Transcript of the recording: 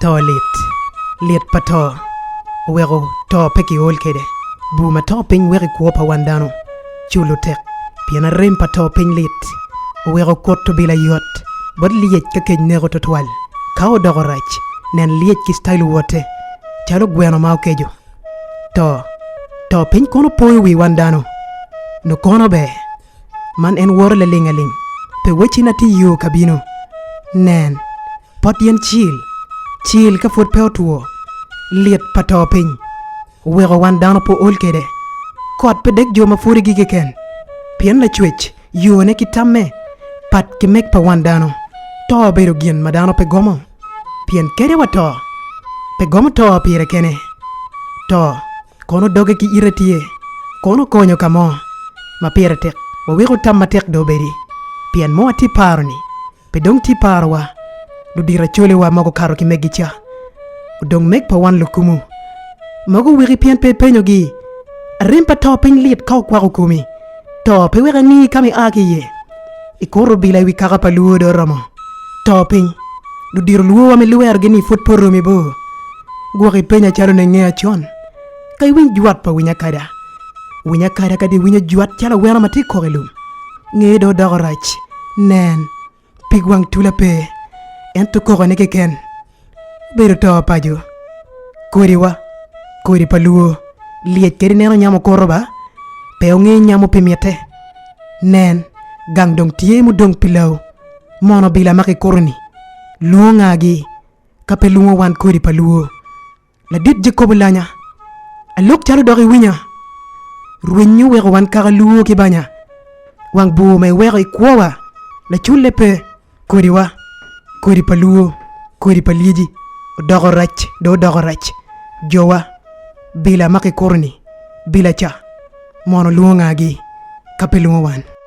To lit. Lit pa to oweko to pe kiol kwede. Bur ma to piny weko i kwo pa wan dano culo tek, pien arem pa to piny lit. Oweko kut obila yot bot lyec ka kec neko twatwal. Ka odoko rac, nen lyec ki ctailo wote calo gweno ma okeco. To. To piny kono poyo wi wan dano. Nongo kono ber Man en woro lalingaling, pe wacci na tye yo ka bino. Nen, pot yen cil, cil ka pwod pe otwo, lit pa to piny oweko wan dano pe ool kede. Kot pe dek jo ma pwodigi keken, pien Lacwec, yone ki tamme pat ki meg pa wan dano. To obedo gin ma dano pe gomo, pien kede wato, pe gomo to pire kene. To. Kono doge ki ite tye, kono konyo ka mo ma pire tek waweko tam matek dong obedi. Pien mo atye paro ni pe dong tye parowa, ludito acolewa ma gukato ki megi ca, odong meg pa wan lukumu. Mogo wiki pien pe ipenyogi. Arem pa to piny lit ka okwako komi. To pe wek angi ka mi a ki iye. Ikuto obila i wi kaka pa Luo dong oromo to piny. Ludito Luo wa ma iluwerogi ni pud pe oromo i bor. Gwok i penya calo ne nge acon. Ka iwiny jwat pa Winy Akada, Winy Akada kadi iwinyo jwat calo aweno ma tye kok i lum, ngeye dong odoko rac. Nen, pig wang tula pe, ento kokone keken Obedo to paco, kodi wa, kodi pa luo, lyec kadi neno nyam okuto ba, pe onge nyamo pi mitte. Nen, gang dong tye mudong pi lawu, mono obila ma kikuto-ni lwongo nga gi, ka pe lwongo wan kodi pa luo? Ladit Jacobo Lanya, Alok calo dok iwinya, rwenyi oweko wan kaka luwo ki banya. Wang bur ma iweko i kwowa laculle pe, kodiwa, kodi pa luwo, kodi pa lyeci odoko rac dong odoko rac. Jowa bila ma kikuto-ni bila ca, mono lwongo ngagi ka pe lwongo wan?